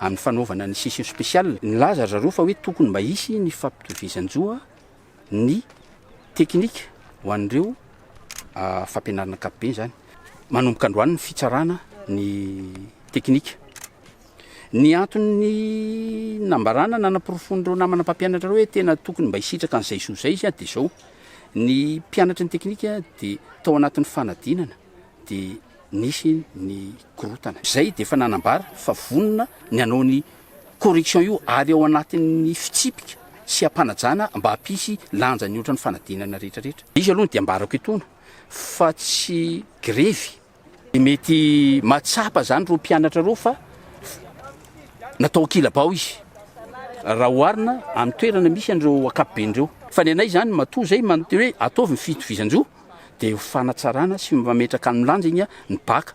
amin'ny fanaovana ny session spéciale. Nilaza ry zareo fa hoe tokony mba hisy ny fampitovizan-jo a ny teknika ho an'ireo fampianarana ankapobeny izany. Manomboka androany ny fitsarana ny teknika. Ny anton'ny nambarana nanaporofoan'ireo namana mpampianatra ireo hoe tena tokony mba hisitraka an'izay zo izay izy dia izao, ny mpianatry ny teknika dia tao anatin'ny fanadinana, dia nisy ny korontana. Izay dia efa nanambara fa vonona ny hanao ny correction io ary ao anatin'ny fitsipika sy hampanajana mba hampisy lanja ny ohatran'ny fanadinana rehetra rehetra. Izy aloha dia ambarako etoana fa tsy grevy. Dia mety mahatsapa izany ireo mpianatra ireo fa natao ankilabao izy raha oharina amin'ny toerana misy an'ireo ankapoben'ireo. Fa ny anay izany matoa izay manontany hoe ataovy ny fitovizan-jo. dia ho fanatsarana sy mametraka ny lanjany ny Bacc.